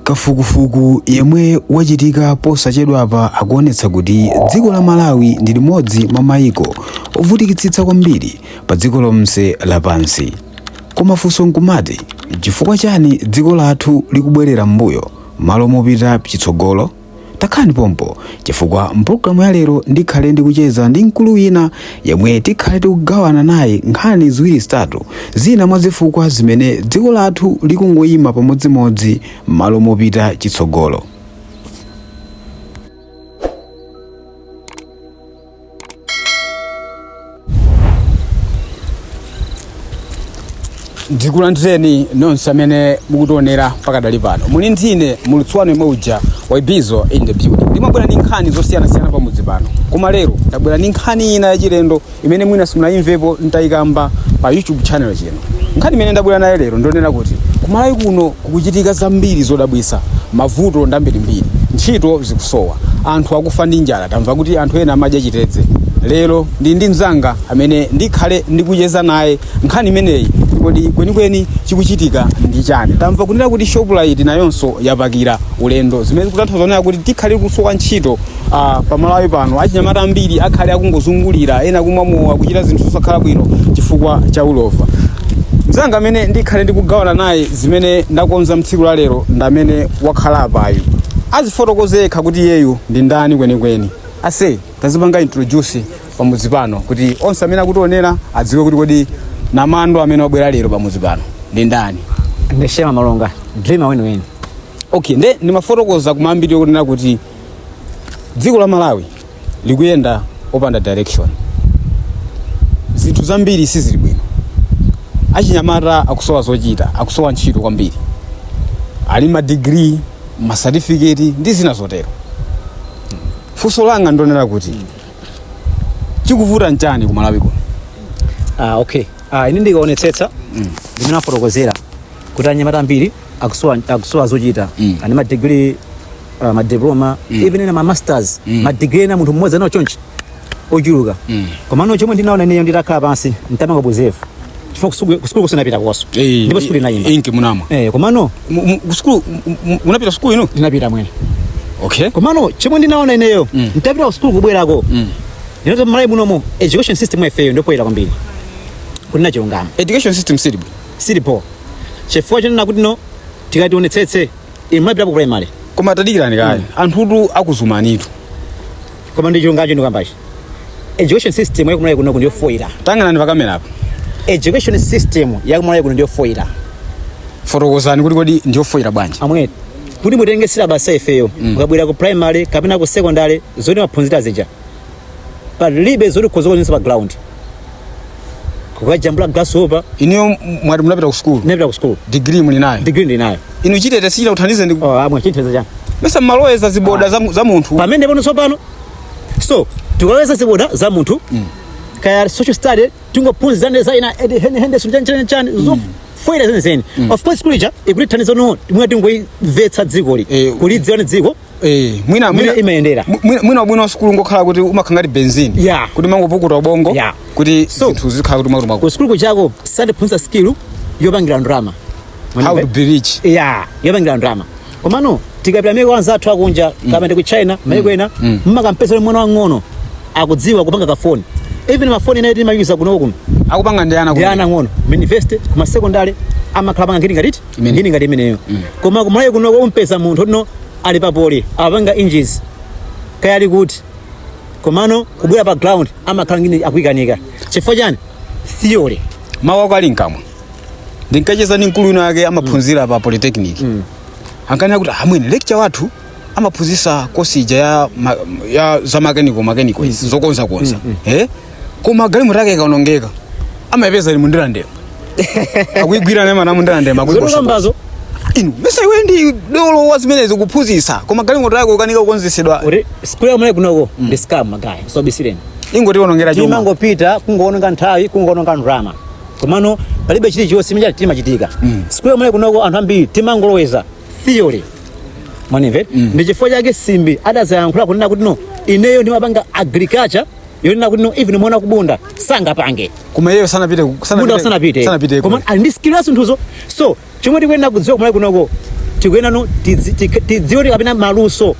Kafukufuku yemwe wachitika posachedwapa akuonetsa kuti dziko la Malawi ndi limodzi mwa maiko ovutikitsitsa kwambiri pa dziko lonse lapansi. Koma funso nkumati, chifukwa chani dziko lathu likubwerera m'mbuyo malo mopita chitsogolo? takhalani pompo chifukwa mpulogalamu ya lero ndikhale ndikucheza ndi mkulu wina yemwe tikhale tikugawana naye nkhani ziwiri zitatu zina mwa zifukwa zimene dziko lathu likungoyima pamodzimodzi m'malo mopita chitsogolo ndikulandireni nonse amene mukutionera pakadali pano muli ndine muulutsi wanu yemwe uja wa ibizo in the building ndimabwera ndi nkhani zosiyanasiyana pamudzi pano koma lero ndabwera ndi nkhani ina yachilendo imene mwina simunayimvepo nditayikamba pa youtube channel chino nkhani imene ndabwera nayo lero ndi yonena kuti kumalawi kuno Kukuchitika zambiri zodabwitsa, mavuto ndi ambirimbiri, ntchito zikusowa, anthu akufa ndi njala, tamva kuti anthu ena amadya chitedze. Lero ndili ndi mnzanga amene ndikhale ndikucheza naye nkhani imeneyi. Kodi kwenikweni chikuchitika ndi chani? Tamva kunena kuti Shoprite nayonso yapakira ulendo, zimene zikutanthauza kunena kuti tikhale tikusowa ntchito. Ah, pamalawi pano achinyamata ambiri akhale akungozungulira ena kumwa mowa kuchita zinthu zosakhala bwino chifukwa cha ulova mzanga amene ndikhale ndikugawana naye zimene ndakonza mtsiku la lero ndamene wakhala apayu azifotokoze yekha kuti iyeyu ndi ndani kwenikweni aise tazipanga introduce pamudzi pano kuti onse amene akutionera adziwe kuti kodi namando amene wabwera lero pamudzi pano ndi ndani ndine shema malonga dreamer weniweni okay nde ndimafotokoza kumayambiriro kunena kuti dziko la malawi likuyenda opanda direction zinthu zambiri sizili bwino achinyamata akusowa zochita akusowa ntchito kwambiri ali ma degree ma certificate ndi zina zotero funso langa ndonena kuti chikuvuta nchani ku malawi kuno Ah, okay. Ah, ine ndikaonetsetsa ndi mmene wafotokozera kuti anyamata ambiri akusowa akusowa zochita Mm. ali ndi madigiri uh, madiploma even ma masters Mm. madigiri ena munthu mmodzi ali nawo chonchi ochuluka Mm. komano chomwe ndinaona ineyo nditakhala pansi ntamanga buzefu chifukwa kusukulu kusukulu sinapite koso Eh, ndipo sukulu inayimba inki munamwa eh, komano Mu- mu- kusukulu mu- mu- munapita sukulu ino ndinapita mwene okay komano chomwe ndinaona ineyo Mm. ntapita kusukulu kubwerako Mm. ndi choti mmalawi munomo education system yaifeyo ndi poor kwambiri kunena chilungamo education system silibu sili bho chifukwa chonena kuti no tikati tionetsetse inu imapita ku primary koma tadikirani kaya anthutu akuzumanitu koma ndi chilungamo ndikukambachi education system yakumalawi kuno ndiyo foyira tang'anani pakamera apo education system yakumalawi kuno ndiyo foyira fotokozani kuti kodi ndiyofoyira bwanji amwene kuti mutenge silabasi ifeyo mukabwera ku primary kapena ku secondary zomwe timaphunzira zija palibe zoti ukhoza kuchotsa pa ground kukajambula grasshopper inuyo m- mwati munapita ku sukulu napita ku school digiri muli nayo degree ndi nayo inu chitete chija chikuthandize ndi oh amwene chitete chani mesa mmaloweza ziwalo za mu- za munthu pamene pano tsopano so tikaloweza ziwalo za munthu kaya social study tingophunzira za ina edi- Henry Henderson chani- chani- chani zofoyira zenizeni of course kulija ikutithandiza no mwati tingolimvetsa dzikoli Eh, kulidziwa ni dziko Eh, mwina Mwina mwina imayendera. mwi- mwina- mwina ubwino wa sukulu ungokhala kuti umakhala ngati benzini Yeah. kuti umangopukuta ubongo Yeah. kuti So- zinthu zikhala kuti makuti makuti kusukulu kujako satiphunzitsa skill yopangira ndalama how to be rich ya yopangira ndalama komano tikapita maiko anzathu akunja kapena ku china maiko ena mmakampeza ule mwana wang'ono akudziwa kupanga kafoni even mafoni enawa timayuza kuno kuno akupanga ndi ana ndi ana ang'ono university kuma- secondary amakhala apanga ngati ngatiti Imene. ngini ngati imeneyo koma kumalawi kuno kumpeza munthu tino ali papoli apanga engineering kaya ali kuti komano kubwera pa ground amakhala ngini akuikanika chifukwa chani theory mawu ako ali mkamwa ndinkacheza ndi mkulu wina wake amaphunzira pa polytechnic ankanena kuti amwene lecture wathu amaphunzitsa kosi ija ya, ma- ya za makeniko makeniko izi zokonzakonza eh? koma galimoto yake ikaonongeka amayipeza ili mundirandema akuyigwira naye mana mundirandema zotokambazo inu mesa iwe ndi dolo wa zimenezo kuphunzitsa koma galimoto yake ikukanika kukonzetsedwa kuti sukulu amwene kunoko ndi scam magaye asakubisireni ikungotionongera chuma timangopita kungoononga nthawi kungoononga ndalama komano palibe chilichonse chimene chimachitika sukulu amwene kunoko anthu ambiri timangoloweza theory mwandimva ndi chifukwa chake simbi adazayankhula kunena kuti no ineyo ndimapanga agriculture yonena kuti no even mwana wa kubunda sangapange koma iyeyo sanapite ku- sanapite- bunda sanapite sanapite koma ali ndi skill ya zinthuzo so chomwe tikuyenera kudziwa kumalawi kunoko tikuyenera no tidzi- tik- tidziwe kuti kapena maluso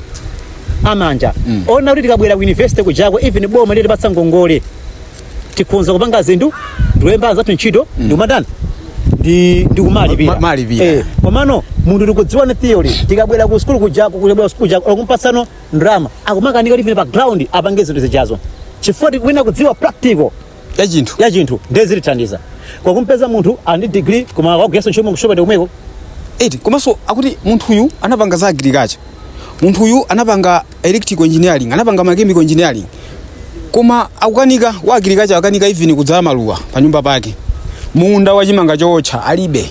amanja onena kuti tikabwera ku university kujako even boma litatipatsa ngongole tikhoza kupanga zinthu ndikulemba anzathu ntchito ndikumatani ndi ndikumalipira Ma- malipira. Eh, komano munthu tikudziwa ni theory tikabwera ku sukulu kujako kubwera ku sukulu kujako okumpatsano ndalama akumakanika kuti pa ground apange zinthu zijazo chifukwa tikuwina kudziwa practical ya chinthu ya chinthu ndiye zilithandiza kwa kumpeza munthu ali ndi degree koma akugwira ntchito mukushopa ndi komweko eti komanso akuti munthuyu anapanga za agriculture munthuyu anapanga electrical engineering anapanga mechanical engineering koma akukanika wa agriculture akanika even kudzala maluwa pa nyumba pake munda wa chimanga chootcha alibe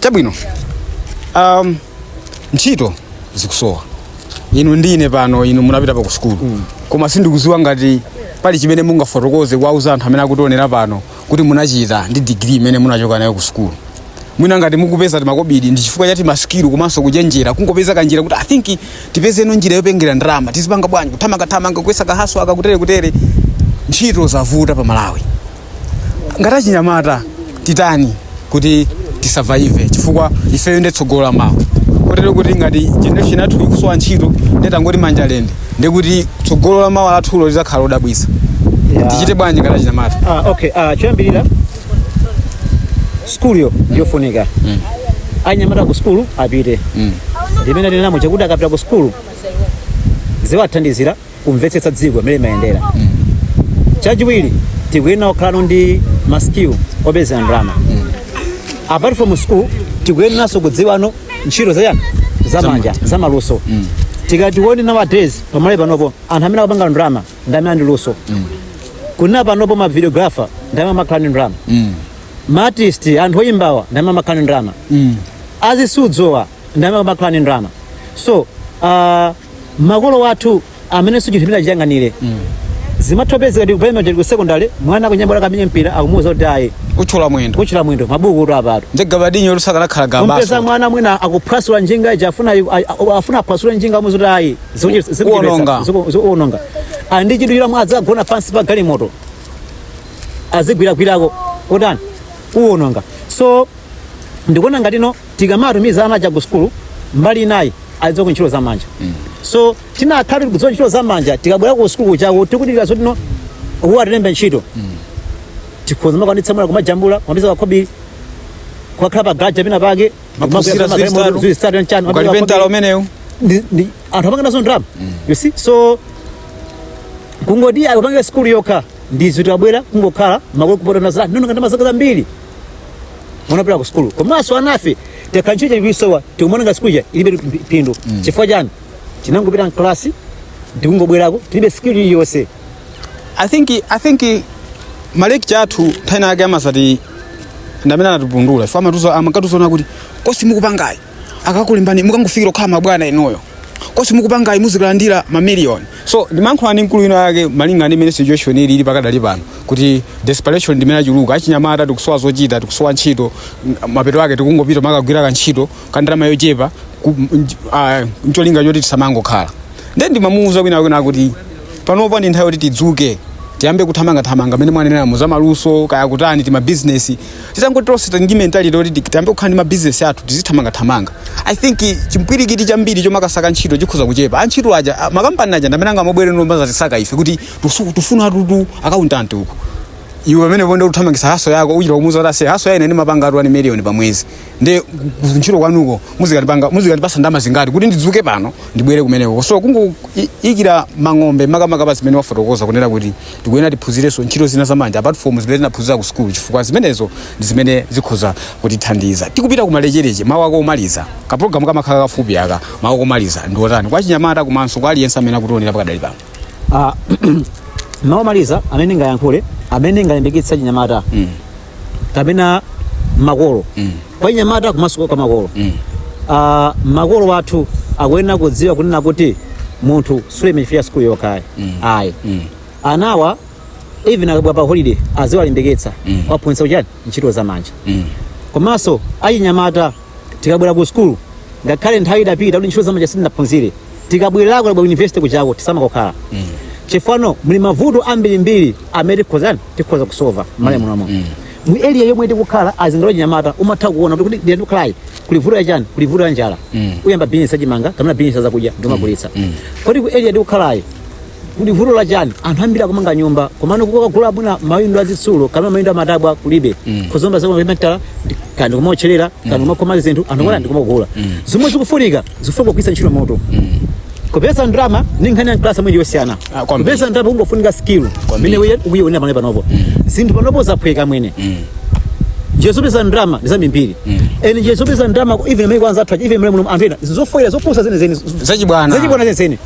chabwino um, ntchito zikusowa inu ndine pano inu munapita pa ku sukulu koma sindikuziwa ngati pali chimene mungafotokoze kuwauza anthu amene akutionera pano kuti munachita ndi digiri imene munachoka nayo ku sukulu mwina ngati mukupeza timakobidi ndi chifukwa chati masikilu komanso kuchenjera kungopeza kanjira kuti i think tipezeno njira yopangira ndalama tizipanga bwanji kuthamangathamanga kuyesa kahaso aka kutere kutere ntchito zavuta pa malawi ngati achinyamata titani kuti tisavaive chifukwa ifeyo ndi tsogolo la mawa kotero kuti ngati generation yathu ikusowa ntchito ndetangoti manja lende ndekuti tsogolo la mawa lathulo lidzakhala lodabwitsa tichite bwanji ngati achinyamata Ah, okay ah, choyambirira skuluyo ndiyofunika anyamata ku skulu apite chimene chilimo chakuti akapita ku skulu iziwathandizira kumvetsetsa dziko mmene limayendera chachiwiri tikuyenera kukhalano ndi ma skill opezera ndalama apart from school tikuyeneranso kudziwano ntchito zayani zamanja zamaluso tikati tione nowadays pamalawi panopo anthu amene akupanga ndalama ndi amene ali ndi luso kunena panopo ma videographer ndi amene amakhala ndi ndalama ma artist anthu oyimbawa ndi amene amakhala ndi ndalama azisudzowa ndi amene amakhala ndi ndalama so uh, makolo athu amene sichinthu chimene achiyang'anire zimathopezeka ndi ku primary ali ku sekondari mwana akunyamula kamenye mpira akumuwuza kuti ayi uthyola mwendo uthyola mwendo mabuku kuti apatu ndi gabadinyo kuti sakanakhala mpeza gabaso mwana mwina akuphwasula njinga ija afuna afuna aphwasule njinga amuwuza kuti ayi Uononga. zikuononga ali ndi chinthu chila mwadzi agona pansi pa galimoto azigwiragwirako kutani uononga so ndikuona ngatino tikamatumiza ana aja ku sukulu mbali inayi azidziwako ntchito za manja so tikanakhala tikudziwa ntchito za manja tikabwera ku sukulu kuchako tikudikira zoti boma atilembe ntchito tikhoza kumakwanitsa mwina kumajambula kumapeza kakhobidi kumakhala pa garaja pina pake Maphunzira zili zitatu. zitatu nchani ukalipentala umenewu ndi- ndi- anthu amapanga nazo ndalama you see so kungoti akupangire sukulu yokha ndizo tikabwera kungokhala makolo kupota nazo nono ngati mazaka zambiri munapita ku sukulu komanso anafe tikakhala ntchito tikuisowa tikumaona ngati sukulu ija ilibe pi- phindu chifukwa chani tinangopita mklasi ndikungobwerako tilibe sikili iliyonse i think i think malekcha athu nthawi yake amasati ndamene anatipundula ife amatiuza amakatiuzano kuti kosi mukupangayi akakulembani mukangofikira kukhala mabwana inuyo kosi mukupangayi muzikalandira mamiliyoni so ndimayankhula ndi mkulu inayake malinga ndi mmene situation ili ili pakadali pano kuti desperation ndimene achuluka achinyamata tikusowa zochita tikusowa ntchito m- mapeto ake tikungopita kumakagwira kantchito kandalama yochepa ku- nj- ah, ncholinga choti tisamangokhala nde ndimamuuza kunena kunena kuti panopa ndi nthawi yoti tidzuke tiyambe kuthamangathamanga mmene mwanenera mu zamaluso kaya kutani timabizinesi titangoti tonse tili ndi mentality yoti tiyambe kukhala ndi mabizinesi athu tizithamangathamanga i think chimpwirikiti chambiri chomakasaka ntchito chikhoza kuchepa antchito aja a- makampani aja ndamene angamabwere nkumadzatisaka ife kuti tusu- tikufuna tutu akauntanti uku iwe pamene ponde ukuthamangitsa hustle yako uchita kumuuza kuti ase hustle ya ine ndimapangatu 1 million pa mwezi nde ku- ku- ntchito kwanuko muzikatipanga muzikatipatsa ndalama zingati kuti ndidzuke pano ndibwere kumeneko so kungoikira mang'ombe makamaka pa zimene wafotokoza kunena kuti tikuyenera tiphunzirenso ntchito zina zamanja apart from zimene tinaphunzira ku sukulu chifukwa zimenezo ndi zimene zikhoza kutithandiza tikupita ku malechereche mawu ako omaliza kapulogalamu kamakhala kafupi aka mawu ako omaliza ndi otani kwa achinyamata komanso kwa aliyense amene akutionera pakadali pano Ah, mawu omaliza amene ndingayankhule amene ndingalimbikitse achinyamata kapena makolo kwa achinyamata komanso kwa makolo Ah, makolo athu akuyenera kudziwa kunena kuti munthu sulemera chifukwa cha sukulu yokhayi ayi anawa even akabwera pa holiday aziwalimbikitsa kuwaphunzitsa kuchani ntchito za manja komanso achinyamata tikabwera ku sukulu ngakhale nthawi idapita kuti ntchito zamanja sitinaphunzire tikabwerako ku university kuchako tisamangokhala chifukwa muno muli mavuto ambirimbiri amene tikhozani tikhoza kusova m'malawi muno momuno mu area yomwe tikukhala ayi ngati wachinyamata umatha kuona kuti kodi area ndikukhalayi kuli vuto yachani kuli vuto ya njala uyamba bizinesi yachimanga kapena bizinesi yazakudya ndikumagulitsa kodi ku area tikukhalayi kuli vuto la chani anthu ambiri akumanga nyumba komano kukagula mwina mawindo azitsulo kapena mawindo amatabwa kulibe mm. ndikumaotcherera kaya ndi kumaotcherera kaya ndi kumakhoma zinthu anthu kuona ndikumagula zomwe zikufunika zikufunika kugwiritsa ntchito moti kupeza ndalama ndi nkhani ya kalasi mwinji yosiyana Ah, kwambiri. kupeza ndalama kungofunika skill Kwambiri. mmene ukuyiwonera pamene panopo zinthu panopo zaphweka mwene njira zopeza ndalama ndi zambirimbiri and njira zopeza ndalama even mmene kwa anzathu even mmene muno anthu ena zofoira zopusa zenezeni zachibwana zachibwana zenezeni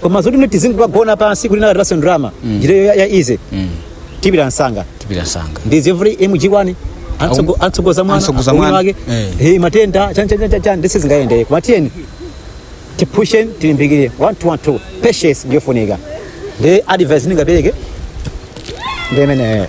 koma zoti tizingogona pansi kuti wina akatipatse ndalama njira ya, ya easy tipita msanga tipita msanga ndizi every mg one Antsogo- antsogoza mwana Antsogoza ubwino mwana. wake Eh. hey, matenda chan chan chan chan ndiye sizingayende koma tiyeni tipushe tilimbikire one two one two patience ndiyofunika ndi advice ndingapereke ndi imeneyo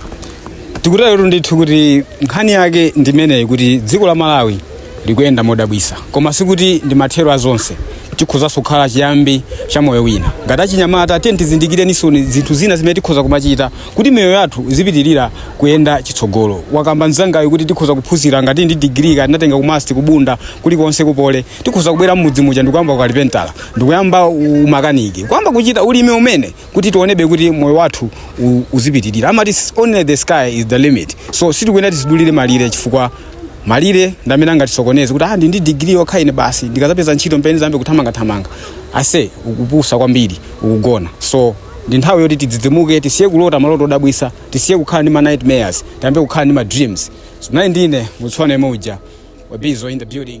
tikutero ndithu kuti nkhani yake ndimeneyi kuti dziko la malawi likuyenda modabwitsa koma sikuti ndi mathero a zonse chikhozanso kukhala chiyambi cha moyo wina ngati achinyamata tiye tizindikirenso ni zinthu zina zimene tikhoza kumachita kuti miyoyo yathu izipitirira kuyenda chitsogolo wakamba mnzangayo kuti tikhoza kuphunzira ngati ndi digiri kaya tinatenga kumasti kubunda kulikonse kupoly tikhoza kubwera mmudzi muja ndikuyamba ukalipentala ndikuyamba umakaniki kuyamba kuchita ulimi umene kuti tionebe kuti moyo wathu u- uzipitirira amati s- only the sky is the limit so sitikuyenera tizidulire malire chifukwa malire ndi amene angatisokoneze kuti ah ndi ndi digiri yokha ine basi ndikazapeza ntchito m'pamene nzayambe kuthamangathamanga ase ukupusa kwambiri ukugona so ndi nthawi yoti tidzidzimuke tisiye kulota maloto odabwitsa tisiye kukhala ndi ma nightmares tiyambe kukhala ndi ma dreams so nayi ndine mutsone muja wabizo in the building